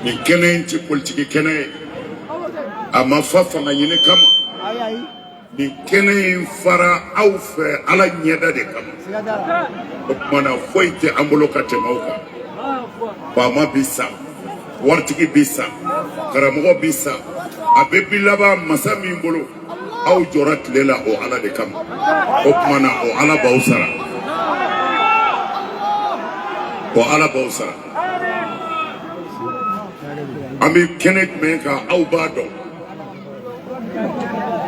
nin kɛnɛ in tɛ politiki kɛnɛ ye a ma fa fanga ɲini kama nin kɛnɛ in fara aw fɛ ala ɲɛda de kama o tuma na foyi tɛ an bolo ka tɛmɛ aw kan faama bi sa waritigi bi sa karamɔgɔ bi sa a bɛɛ bi laban masa min bolo aw jɔra tile la o ala de kama o tuma na o ala b'aw sara o ala b'aw sara an bɛ kɛnɛ jumɛn kan aw b'a dɔn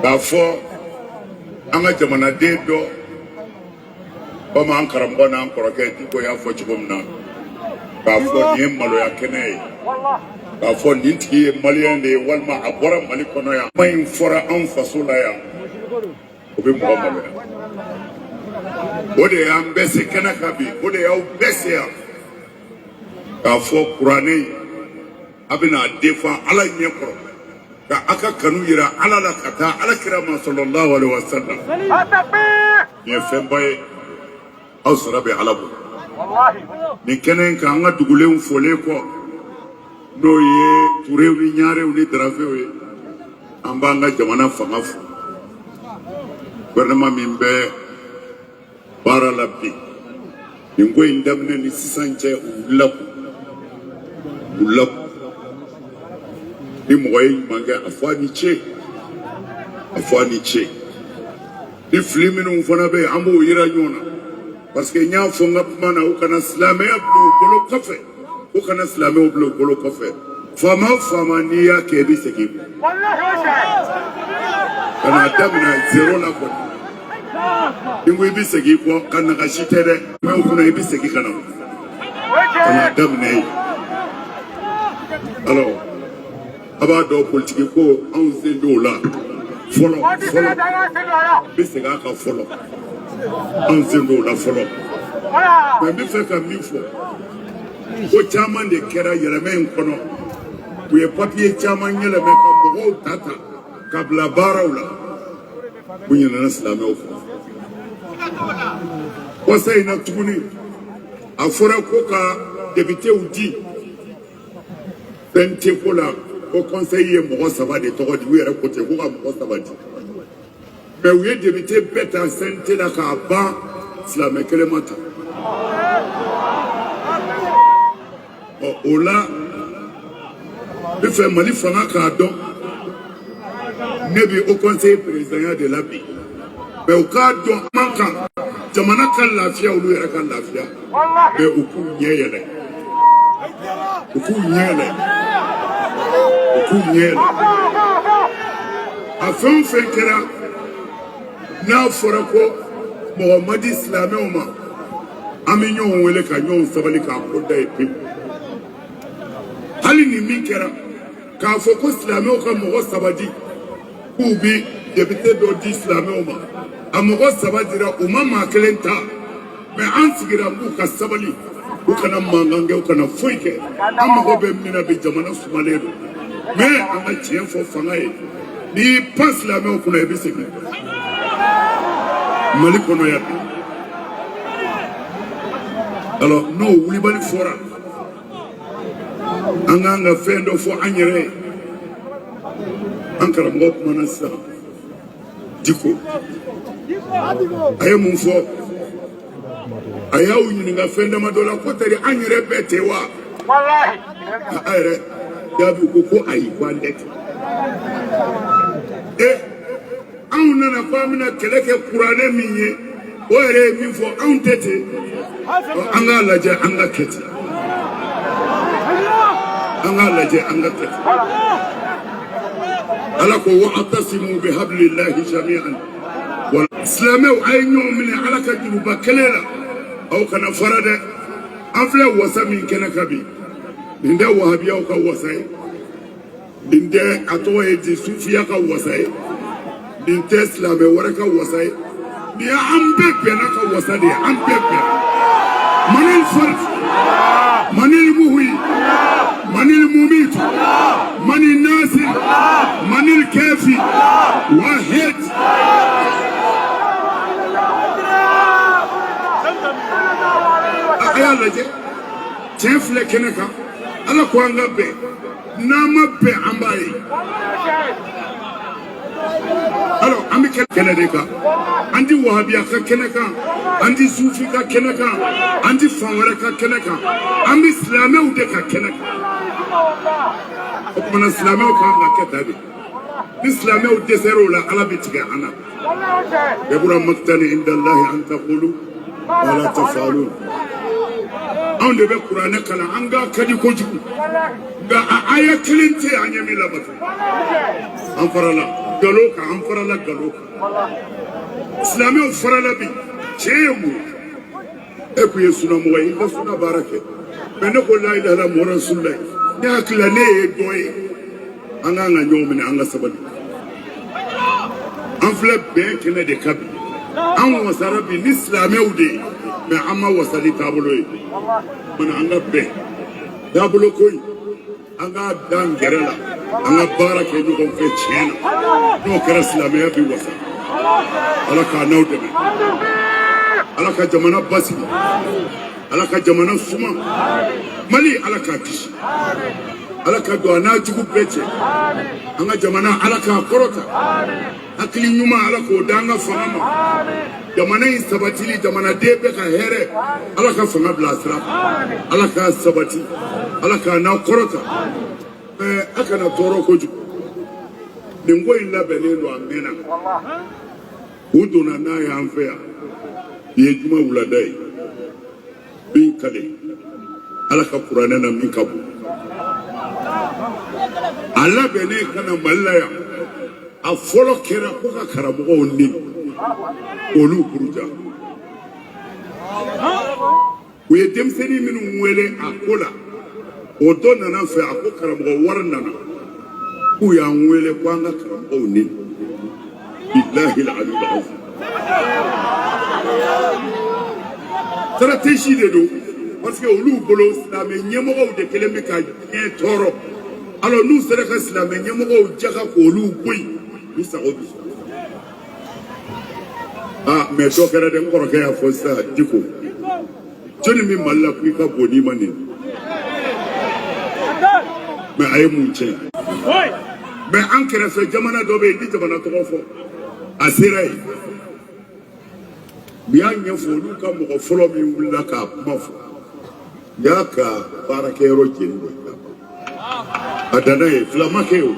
k'a fɔ an ka jamanaden dɔ komi an karamɔgɔ n'an kɔrɔkɛ diko y'a fɔ cogo min na k'a fɔ nin ye maloya kɛnɛ ye k'a fɔ nin tigi ye maliyɛn de ye walima a bɔra mali kɔnɔ yan kuma in fɔra anw faso la yan o bɛ mɔgɔ maloya o de y'an bɛɛ se kɛnɛ kan bi o de y'aw bɛɛ se yan k'a fɔ kuranɛ a bɛna a defan ala ɲɛ kɔrɔ ka a ka kanu yira ala la ka taa ala kira ma salalahu alaihi wa salam nin ye fɛnba ye aw sara bɛ ala bolo nin kɛnɛ in kan an ka dugulenw fɔlen kɔ n'o ye turew ni ɲarew ni daravew ye an b'an ka jamana fanga fo gouvernement min bɛ baara la bi nin ko in daminɛ ni sisan cɛ u wulila k'u wulila k'u ni mɔgɔ ye ɲuman kɛ a fɔ a ni ce a fɔ a ni ce ni fili minnu fana bɛ an b'o yira ɲɔgɔn na parce que n y'a fɔ n ka kuma na u kana silamɛya bila u bolo kɔfɛ u kana silamɛw bila u bolo kɔfɛ faama o faama n'i y'a kɛ i bɛ segin kɔ ka n'a daminɛ zero la kɔni n ko i bɛ segin kɔ ka nagasi tɛ dɛ mɛ o kunna i bɛ segin ka na ka n'a daminɛ yen alors. a b'a dɔn politiki ko anw sen t'o la fɔlɔ fɔlɔ n bɛ segin a kan fɔlɔ anw sen t'o la fɔlɔ mɛ n bɛ fɛ ka min fɔ ko caman de kɛra yɛlɛmɛ in kɔnɔ u ye papiye caman yɛlɛmɛ ka mɔgɔw ta ta ka bila baaraw la u ɲinɛna silamɛw kɔ kɔsa in na tuguni a fɔra ko ka depitew di CNT ko la haut conseil ye mɔgɔ saba de tɔgɔ di u yɛrɛ ko ten ko ka mɔgɔ saba di mɛ u ye depite bɛɛ ta CNT la k'a ban silamɛ kelen ma ta ɔ o la n bɛ fɛ mali fanga k'a dɔn ne bi haut conseil présidentya de la bi mɛ u k'a dɔn man kan jamana ka lafiya olu yɛrɛ ka lafiya mɛ u k'u ɲɛ yɛlɛ u k'u ɲɛ yɛlɛ u k'u ɲɛ yɛlɛ a fɛn o fɛn kɛra n'a fɔra ko mɔgɔ ma di silamɛw ma an bɛ ɲɔgɔn wele ka ɲɔgɔn sabali k'a ko da yen pewu hali ni min kɛra k'a fɔ ko silamɛw ka mɔgɔ saba di k'u bɛ depite dɔ di silamɛw ma a mɔgɔ saba dira u ma maa kelen ta mɛ an sigira k'u ka sabali u kana mankan kɛ u kana foyi kɛ an mago bɛ min na bi jamana sumalen don mɛ an ka tiɲɛ fɔ fanga ye n'i y'i pan silamɛw kunna i bɛ sɛgɛn mali kɔnɔ yan bi alors n'o wulibali fɔra an ka fɛn dɔ fɔ an yɛrɛ ye an karamɔgɔ kumana sisan diko a ye mun fɔ a y'aw ɲininka fɛn dama dɔ la ko tari an yɛrɛ bɛ ten wa a yɛrɛ jaabi ko ko ayi ko an tɛ ten e anw nana ko an bɛna kɛlɛ kɛ kuranɛ min ye o yɛrɛ ye min fɔ anw tɛ ten an k'a lajɛ an ka kɛ ten an k'a lajɛ an ka kɛ ten ala ko wa atasimu bi habililahi jami'an silamɛw a ye ɲɔgɔn minɛ ala ka juruba kelen na aw kana fara dɛ an filɛ wasa min kɛnɛ kan bi nin tɛ wahabiyaw ka wasa ye nin tɛ a tɔgɔ ye di sufiya ka wasa ye nin tɛ silamɛ wɛrɛ ka wasa ye nin ye an bɛɛ bɛnna ka wasa de ye an bɛɛ bɛnna manil fari manil muhyi manil mumit manil nasir manil kafi wahid a y'a lajɛ tiɲɛ filɛ kɛnɛ kan ala ko an ka bɛn n'an ma bɛn an b'a ye alors an bɛ kɛnɛ de kan an tɛ wahabiya ka kɛnɛ kan an tɛ sufi ka kɛnɛ kan an tɛ fan wɛrɛ ka kɛnɛ kan an bɛ silamɛw de ka kɛnɛ kan o tuma na silamɛw kan ka kɛ ta de ni silamɛw dɛsɛra o la ala bɛ tigɛ an na kabura makitani indalahi an takulu ma la tafalu anw de bɛ kuranɛ kalan an kan ka di kojugu nka a aya kelen tɛ an ɲɛ min labato an farala galo kan an farala galo kan silamɛw farala bi tiɲɛ ye mun ye e kun ye sunamɔgɔ ye i ka suna baara kɛ mɛ ne ko la ilaha illallah muhamadu rasulullah ne hakilila ne ye dɔ ye an kan ka ɲɔgɔn minɛ an ka sabali an filɛ bɛn kɛnɛ de kan bi an wasara bi ni silamɛw de ye mɛ an ma wasa ni taabolo ye mana an ka bɛn taabolo ko in an k'a d'an kɛrɛ la an ka baara kɛ ɲɔgɔn fɛ tiɲɛ na n'o kɛra silamɛya bi wasa ala k'an n'aw dɛmɛ ala ka jamana basigi ala ka jamana suma mali ala k'a kisi ala ka don a n'a jugu bɛɛ cɛ an ka jamana ala k'a kɔrɔta hakili ɲuman ala k'o d'an ka fanga ma jamana in sabatili jamanaden bɛɛ ka hɛrɛ ala ka fanga bila sira ala k'a sabati ala k'a n'aw kɔrɔta ɛɛ a kana tɔɔrɔ kojugu nin ko in labɛnnen don a mɛnna u donna n'a y'an fɛ yan nin ye juma wulada ye n bi n kali ala ka kuranɛ na min ka bon a labɛnnen ka na mali la yan a fɔlɔ kɛra ko ka karamɔgɔw neni olu buruja u ye denmisɛnnin minnu wele a ko la o dɔ nana n fɛ a ko karamɔgɔ wari nana k'u y'an wele ko an ka karamɔgɔw neni billahi aliyul azim stratégie de don parce que olu bolo silamɛ ɲɛmɔgɔw de kelen bɛ ka diɲɛ tɔɔrɔ alors n'u sera ka silamɛ ɲɛmɔgɔw jaga k'olu bɔ yen u sago bi sɔrɔ aa mɛ dɔ kɛra dɛ n kɔrɔkɛ y'a fɔ sisan diko jɔnni bɛ mali la ko i ka bon n'i ma neni mɛ a ye mun tiɲɛ mɛ an kɛrɛfɛ jamana dɔ bɛ yen n ti jamana tɔgɔ fɔ a sera yen u y'a ɲɛfɔ olu ka mɔgɔ fɔlɔ min wulila k'a kuma fɔ u y'a ka baarakɛyɔrɔ jeni de a danna ye fila ma kɛ o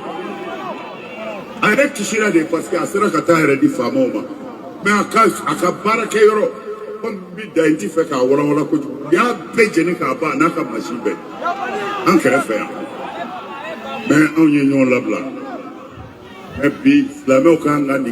a yɛrɛ kisira de parce que a sera ka t'a yɛrɛ di faamaw ma mɛ a ka a ka baarakɛyɔrɔ komi bi da in n ti fɛ k'a walawala kojugu u y'a bɛɛ jeni k'a ban n'a ka masin bɛɛ an kɛrɛfɛ yan mɛ anw ye ɲɔgɔn labila mɛ bi silamɛw kan ka nin